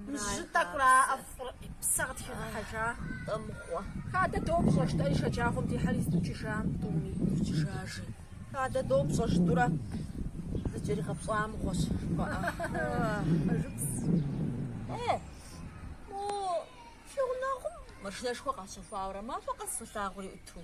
Мы жьы тӏэкӏура ӏэфӏыр и псэ къытхигъэхьэжа? Тӏэ мыгъуэ. Хадэ допщӏэ, жытӏэри шэджагъуэм дихьэри зыдукӏыжам тӏуми укӏыжажи. Хадэ допщӏэ, жытӏурэ зыкӏэригъэпщӏа мыгъуэщ жыпӏэ. Мо фи гъунэгъум машинэшхуэ къащэхуауэрэ махуэ къэс солъагъури ӏуту.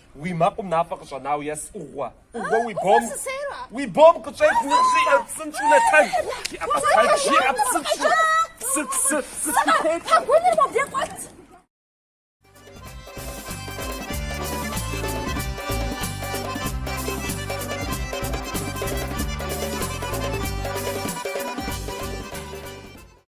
Уи мэкъум мафӏэ къыщӏэнау ес ӏугъуэ. ӏугъуэ уи бом. Уи бом къыщӏет ныбжьи псынщӏу нэтэж. Жиӏэ псынщӏ, жиӏэ псынщӏу. Псы, псы, псы схутет. Пэгуныр мобдей къуэт.